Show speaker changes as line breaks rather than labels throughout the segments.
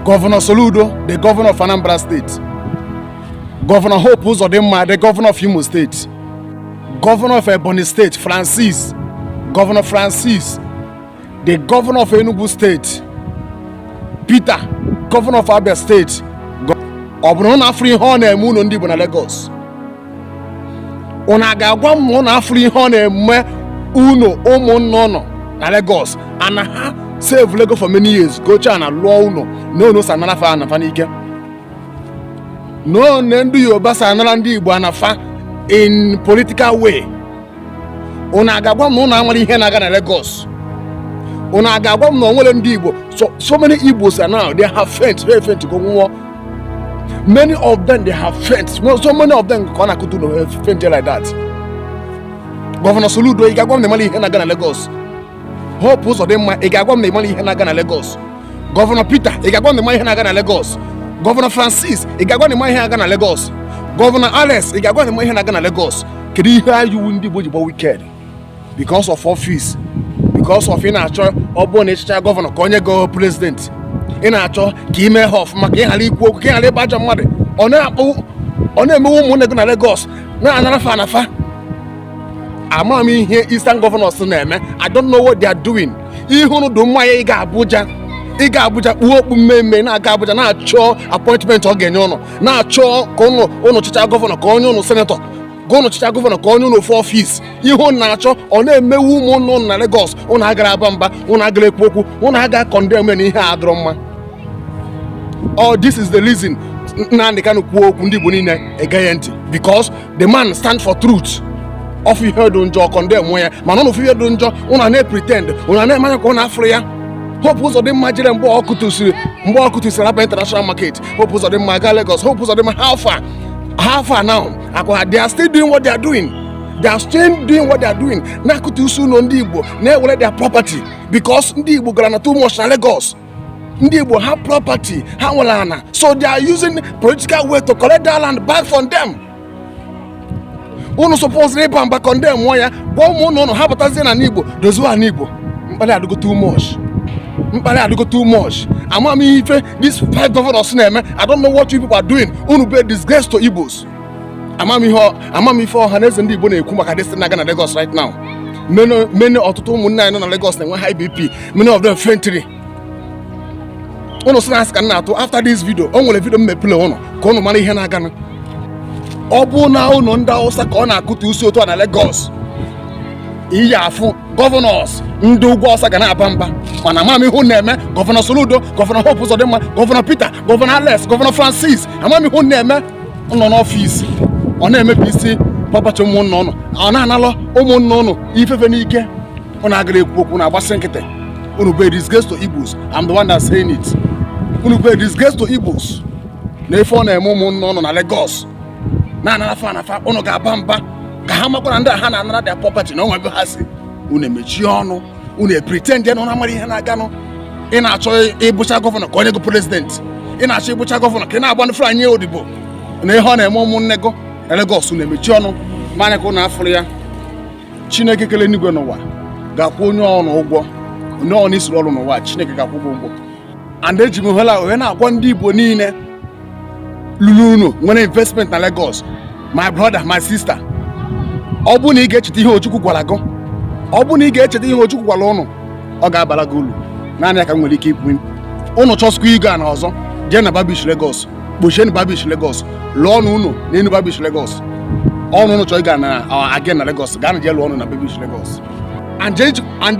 Gọvanọ Soludo the Gọvanọ of Anambra State Gọvanọ Hope Uzodinma the Gọvanọ of Imo State Gọvanọ of Ebonyi State Francis Gọvanọ Francis the Gọvanọ of Enugu State Peter Gọvanọ of Abia State ọ bụrụ na afụrọ ihe ọ na-eme ụnọ ndị Igbo na Lagos unu a ga-agwa m na unu afụrọ ihe ọ na-eme unu ụmụnna ụnụ na Lagos ana ha savelụ ego for many years gocha ana lụọ ụnọ na unu si anara fa ana fa n'ike no na ndị Yoruba si anara ndị Igbo ana fa in political way unu a ga-agwa m na unu amarọ ihe na-aga na Lagos unu a ga-agwa m na onwere ndị Igbo so so many Igbos are now they have faint they faint go nwụọ many of them they have faint so many of them ka ọ na-akụtu na faint like that gọvanọ Soludo ị ga-agwa m na ị marọ ihe na-aga na Lagos Hope Uzodimma ị ga-agwa m na ị marọ ihe na-aga na Lagos gọvanọ Peter ị ga-agwa m na ị marọ ihe na-aga na Lagos gọvanọ Francis ị ga-agwa m na ị marọ ihe na-aga na Lagos gọvanọ Alex ị ga-agwa m na ị marọ ihe na-aga na Lagos kedu ihe anyị wụ ndị Igbo ji bụ wicked because of office because of ị na-achọ ọ bụrụ na ị chịcha gọvanọ ka o nye gị prezidenti ị na-achọ ka ị mee ha ọfụma ka ị ghara ikwu okwu ka ị ghara ịbụ ajọ mmadụ ọ na-akpụ ọ na-emewu ụmụnne gị na Lagos na-anara fa ana fa ama m ihe Eastern Governors na-eme I don't know what they are doing ihe unu dị mma ya ịga Abuja ịga Abuja kpuo okpu mmee mmee na-aga Abuja na-achọ appointment ọ ga-enye ụnụ na-achọ ka ụnụ ụnụ chịcha gọvanọ ka o nye ụnụ senetọ ka ụnụ chịcha gọvanọ ka o nye ụnụ ofu ọfis ihe ụnụ na-achọ ọ na-emewu ụmụ ụnụ na Lagos ụnụ agara aba mba ụnụ agara ekwu okwu ụnụ aga condemn na ihe a adịrọ mma oh, this is the reason Nnamdi Kanu kwuo okwu ndị Igbo niile egee ya ntị because the man stand for truth ọ fụ ihe dị njọ ọ condemnuo ya mana ụnụ fụ ihe dị njọ ụnụ na-pretend ụnụ na-eme anya ka ụnụ afụrọ ya Hope Uzodinma jere mgbe ọ kụtụsiri mgbe ọ kụtụsiri Alaba international market Hope Uzodinma gaa Lagos Hope Uzodinma how far how far now ọkwa they are still doing what they are doing they are still doing what they are doing na-akụtusi ụnọ ndị igbo na-ewere their property because ndị igbo goro ana too much na Lagos ndị igbo have property ha nwere ana so they are using political way to collect their land back from them unu suppose ịba mba condemn ya gwa ụmụnne ụnụ ha batazie ana igbo dozie ana igbo mkpali adịgo too much mkpali adịgo too much ama m ife these five governors na-eme i don't know what you people are doing unu bụ disgrace to igbos ama m ihe ama m ife Ọhanaeze ndị igbo na-ekwu maka this na-aga na lagos right now many many ọtụtụ ụmụnne anyị nọ na lagos na-enwe high bp many of them faintili unu sị na asị ka m na-atụ after this video o nwere video m mepere ụnụ ka ụnụ mara ihe na-aganụ ọ bụ na ụnọ ndị awụsa ka ọ na-akụtusi otu a na lagos ị ya-afụ gọvanọs ndị ugwu Awụsa ga na-aba mba mana amam ihe unu na-eme gọvanọ Soludo gọvanọ Hope Uzodimma gọvanọ Peter gọvanọ Alex gọvanọ Francis amam ihe unu na-eme nọ n'ọfịs ọ na-emebi isi kpọbachi ụmụnna ụnụ ọ na-analụ ụmụnna ụnụ ife fa n'ike ụnụ agarọ ekwu okwu na-agbachi nkịtị unu bụ disgrace to Igbos I'm the one that saying it unu bụ disgrace to Igbos na ife ọ na-eme ụmụnna ụnụ na Lagos na-anara fa ana fa ụnụ ga-aba mba ka ha makwara ndị a ha na-anara their property na o nwe ebe ha si unu emechie ọnụ unu a-pretend na unu amarọ ihe na-aganụ ị na-achọ ịbụcha gọvanọ ka o nye gị president ị na-achọ ịbụcha gọvanọ ka ị na-agba ndị Fulani odibo na ihe ọ na-eme ụmụnne gị na Lagos unu emechi ọnụ mee anya ka ụnụ afụrọ ya chineke kele enigwe na ụwa ga-akwụ onye ọrụ ụgwọ onye ọrụ isiri ọrụ n'ụwa chineke ga-akwụ ụgwọ ụgwọ and eji m ohere a wee na-agwa ndị igbo niile lụlụ ụnọ nwere investment na Lagos my brother my sister ọ bụrụ na ị ga-echeta ihe Ojukwu gwara gị ọ bụrụ na ị ga-echeta ihe Ojukwu gwara ụnụ ọ ga-abara gị ulu naanị ya ka m nwere ike ikwu ụnụ chọsikwa igo ana ọzọ jee na Bar Beach Lagos kpochie na Bar Beach Lagos lụọ ụnọ ụnụ n'enu Bar Beach Lagos ọ bụ na ụnụ chọọ igo ana again na Lagos gaanụ jee lụọ ụnọ na Bar Beach Lagos and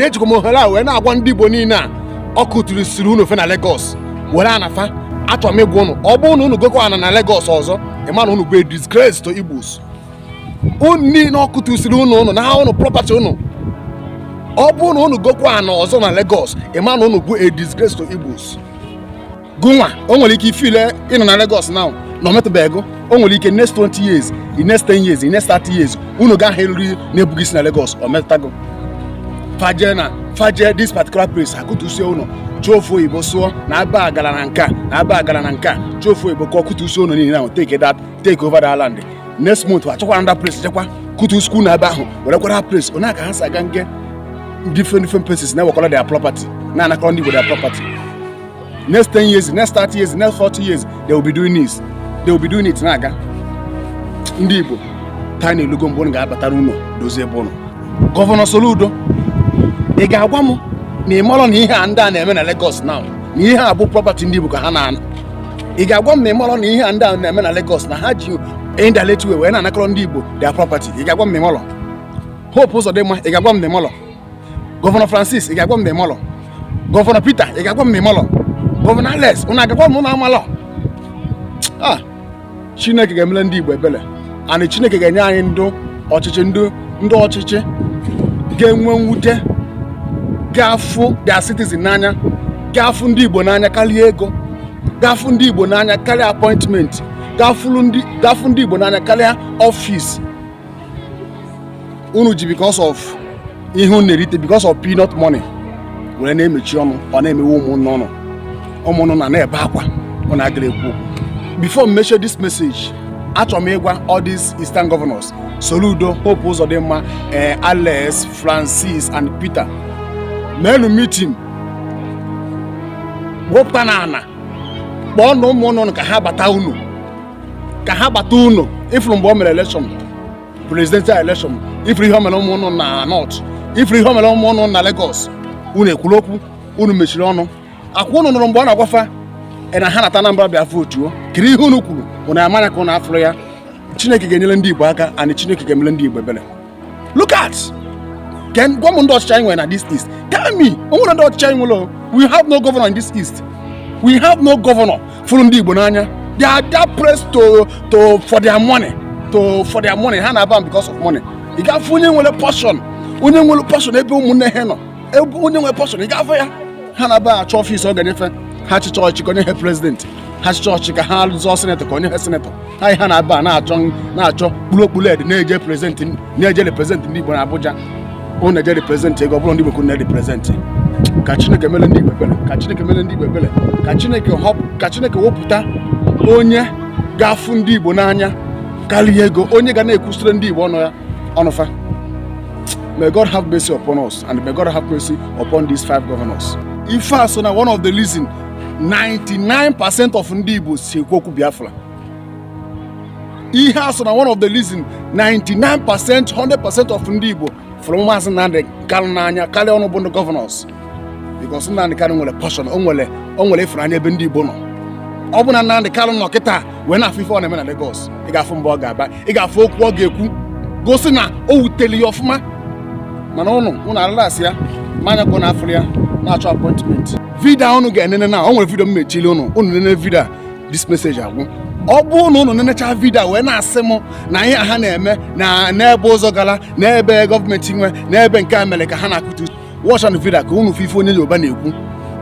ejikwa m ohere a wee na-agwa ndị Igbo niile a ọ kụtusiri ụnọ fa na Lagos were ana fa achọrọ m ịgwa unu ọ bụrụ na unu gokwa ana na Lagos ọzọ ị ma na unu bụ a disgrace to Igbos unu niile ọ kụtusiri ụnọ unu nara unu property unu ọ bụrụ na unu gokwa ana ọzọ na Lagos ị ma na unu bụ a disgrace to Igbos gụnwa o nwere ike ị feel na ị nọ na Lagos now na o metụbe gị o nwere ike next 20 years the next 10 years the next 30 years unu ga-ahụ eriri na-ebughị isi na Lagos o metụta gị fa jee na fa jee this particular place akụtusie ụlọ chọọ ofu oyibo sụọ na aba agara na nka na aba agara na nka chọọ ofu oyibo kọọ kụtusie ụlọ niile ahụ take that take over that land next month achọkwa another place jekwa kụtusikwa ụlọ nọ ebe ahụ werekwara that place ọ ya ka ha si aga na-eje different different places na-ewekwara their property na-anakọrọ ndị Igbo their property next 10 years next 30 years next 40 years they will be doing this they will be doing it na-aga ndị Igbo time elugo mgbe unu ga-abatara ụlọ dozie ebe ụlọ gọvanọ Soludo ị ga-agwa m na ị marọ na ihe a ndị a na-eme na Lagos now na ihe a bụ property ndị Igbo ka ha na-ana ị ga-agwa m na ị marọ na ihe a ndị a na-eme na Lagos na ha ji indirect way wee na-anakọrọ ndị Igbo their property ị ga-agwa m na ị marọ Hope Uzodimma ị ga-agwa m na ị marọ gọvanọ Francis ị ga-agwa m na ị malọ gọvanọ Peter ị ga-agwa m na ị malọ gọvanọ Alex ụnụ aga-agwa m na amalọ a chineke ga-emele ndị igbo ebele and chineke ga-enye anyị ndị ọchịchị ndị ọchịchị ga-enwe mwute ga-afụ their citizen n'anya ga-afụ ndị igbo n'anya karịa ego ga-afụ ndị igbo n'anya karịa appointment ga-afụ ndị igbo n'anya karịa ọfịs unu ji because of ihe unu na-erite because of peanut money were na-emechi ọnụ ọ na-emewe ụmụnne unu ụmụnne unu na-ebe akwa unu agara ekwu okwu before m mechie this message achọrọ m ịgwa all these eastern governors Soludo Hope Uzodinma eh, Alex Francis and Peter meenụ meeting wepụtanụ ana kpọọnụ ụmụnne unu ka ha bata ụnọ ka ha gbata ụlọ ị fụrụ mgbe o mere election presidential election ị fụrụ ihe o mere ụmụnne unu na north ị fụrụ ihe o mere ụmụnne unu na Lagos unu ekwurọ okwu unu mechiri ọnụ ọ kwa unu nụrụ mgbe ọ na-agwa fa e na ha nata Anambra bịa vootuo kedụ ihe unu kwuru unu emee anya ka unu afụrọ ya Chineke ga-enyere ndị Igbo aka and Chineke ga-emere ndị Igbo ebere look at eh gwa m ndị ọchịchị anyị nwere na this east tell me o nwere ndị ọchịchị anyị nwere we have no governor in this east we have no governor fụrụ ndị igbo n'anya they are that place to to for their money to for their money ha na-aba because of money ị ga-afụ onye nwere passion onye nwere passion ebe ụmụnne ha nọ ebe onye nwe passion ị ga-afụ ya ha na-aba achọ ọfịs ọ ga-enyefe ha chịchaa ọchị ka o nye ha president ha chịchaa ọchị ka ha zọọ senator ka o nye ha senator ha ihe ha na-aba na-achọ na-achọ kpụrụ okpuru ed na-eje prezidenti na-eje represent ndị Igbo na Abuja unu na-eje represent ego ọ bụrọ ndị Igbo ka unu na-represent ka Chineke mere ndị Igbo ebere ka Chineke mere ndị Igbo ebere ka Chineke họpụ ka Chineke wepụta onye ga-afụ ndị Igbo n'anya karịa ego onye ga na-ekwusịrị ndị Igbo ọnụ ya ọnụ fa May God have mercy upon us and may God have mercy upon these five governors. Ife a so na one of the reason 99% of ndị Igbo si ekwu okwu Biafra. Ihe a so na one of the reason 99% 100% of ndị Igbo fụrụ Maazị Nnamdi Kanu n'anya karịa unu bụ ndị governors. because Nnamdị Kanụ nwere passion o nwere o nwere ịfụnanya ebe ndị Igbo nọ ọ bụ na Nnamdị Kanụ nọ kịta wee na-afụ ife ọ na-eme na Lagos ị ga-afụ mgbe ọ ga-aba ị ga-afụ okwu ọ ga-ekwu gosi na o wutere ya ọfụma mana ụnụ ụnụ elelesịa ya mee anya ka ụnụ afụrọ ya na-achọ appointment vidio ụnụ ga-enene na o nwere vidio m mechili ụnụ ụnụ nene vidio a this message agwụ ọ bụrụ na ụnụ nenecha vidio wee na-asị m na ihe ha na-eme na n'ebe ụzọ gara n'ebe gọọmenti nwe n'ebe nke a mere ka ha na-akụtu watch nụ video ka unu fụ ife onye Yoruba na-ekwu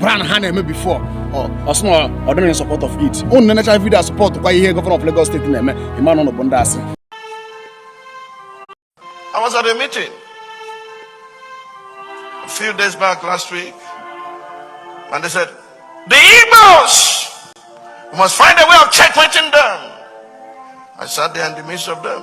plan ha na-eme before ọ sị na ọ dịrị in support of it unu nenecha vidio support kwa ihe governor of Lagos State na-eme ị ma na unu bụ ndị asị
I was at a meeting a few days back last week and they said the Igbos we must find a way of checkmating them I sat there in the midst of them